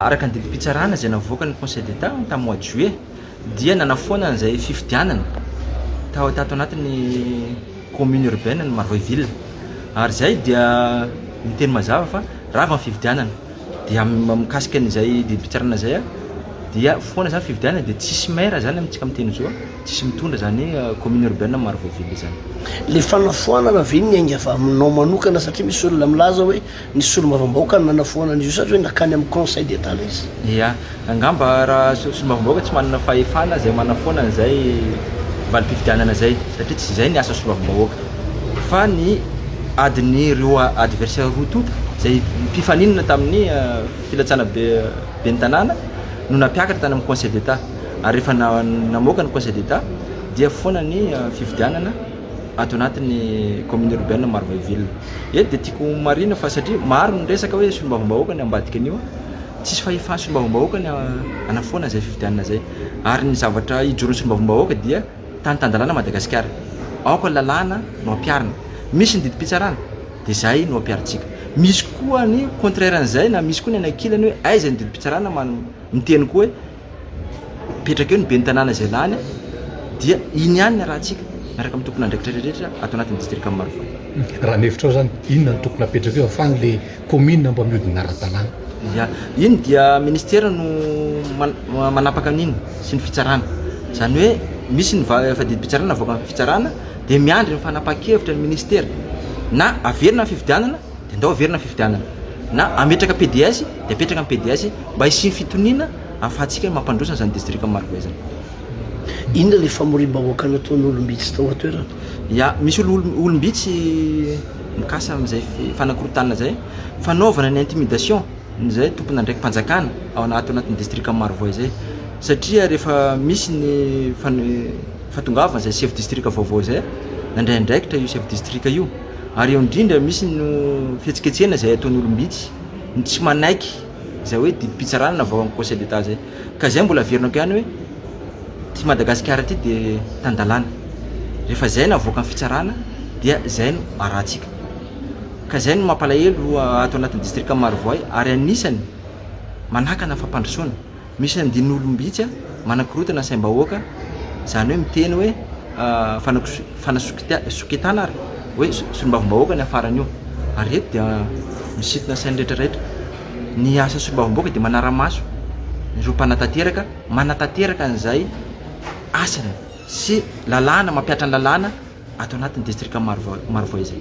Araka ny didim-pitsarana izay navoakan'ny Conseil d'Etat tamin'ny mois de juillet dia nanafoana an'izay fifidianana tao tato anatin'ny commune urbaine ny Marovoay ville ary izay dia miteny mazava fa rava ny fifidianana dia mikasika an'izay didim-pitsarana izay aho dia foana izany fifidianana dia tsisy maire izany amintsika amin'ny teny zo tsisy mitondra izany commune urbaine ny Marovoay ville izany. Ilay fanafoanana ve niainga avy aminao manokana satria misy olona milaza hoe Ny solombavambahoaka no nanafoana an'izy io sa hoe nakany amin'ny conseil d'Etat ilay izy? Ia, angamba raha solombavambahoaka tsy manana fahefana izay manafoana an'izay valim-pifidianana izay satria tsy izay ny asa solombavambahoaka fa ny adin'ny roa adversaire roa tonta izay mpifaninana tamin'ny filatsana be ben'ny tanàna no nampiakatra tany amin'ny conseil d'Etat ary rehefa namoaka ny conseil d'Etat dia foana ny fifidianana ato anatin'ny commune urbaine Marovoay ville. Eto dia tiako ho marihina fa satria maro ny resaka hoe solombavambahoaka ny ambadika an'io, tsisy fahefan'ny solombavambahoaka ny hanafoana izay fifidianana izay ary ny zavatra hijoron'ny solombavambahoaka dia tany tan-dalàna Madagasikara, aoka ny lalàna no ampiharina, misy ny didim-pitsarana dia izay no ampiharintsika, misy koa ny contraire an'izay na misy koa ny any ankilany hoe aiza ny didim-pitsarana miteny koa hoe. mipetraka eo ny ben'ny tanàna izay lany dia iny ihany ny arahantsika miaraka amin'ny tompon'andraikitra rehetra ato anatin'ny distrikan'i Marovoay. Raha ny hevitrao izany, inona no tokony hapetraka eo afahany ilay kaominina mba mihodina ara-dalàna? Ya, iny dia ministera no manapaka an'iny sy ny fitsarana. Izany hoe misy ny fadidim-pitsarana avoakan'ny fitsarana dia miandry ny fanapahan-kevitra ny ministera na averina ny fifidianana, dia ndao averina ny fifidianana na ametraka PDS dia apetraka ny PDS mba hisian'ny fitoniana ahafahantsika mampandroso an'izany distrika Marovoay izany. Inona ilay famoriam-bahoaka nataon'ny olom-bitsy tao an-toerana? Ya, misy olom-bitsy mikasa amin'izay fanakorontana izay, fanaovana ny intimidation izay tompon'andraiki-panjakana ao anaty anatin'ny distrika Marovoay izay satria rehefa misy ny fano- fahatongavan'izay chef distrika vaovao izay, nandray andraikitra io chef distrika io. Ary eo indrindra misy no fihetsiketsehana izay ataon'ny olom-bitsy, ny tsy manaiky izay hoe didim-pitsarana na vaohan'ny Conseil d'Etat izay. Ka izay mbola averinako ihany hoe ity Madagasikara ity dia tan-dalàna. Rehefa izay no avoakan'ny fitsarana dia izay no arahantsika. Ka izay no mampalahelo ato anatin'ny distrikan'i Marovoay ary anisany manakana ny fampandrosoana. Misy andin'olom-bitsy manakorontana saim-bahoaka, izany hoe miteny hoe fanasokita- sokitana ary hoe solombavambahoaka ny afaran'io. Ary ireto dia misintona sain'ny rehetra rehetra. Ny asan'ny solombavambahoaka dia manara-maso ireo mpanatanteraka, manatanteraka an'izay asany sy lalàna, mampihatra ny lalàna ato anatin'ny distrika Maro- Marovoay izay.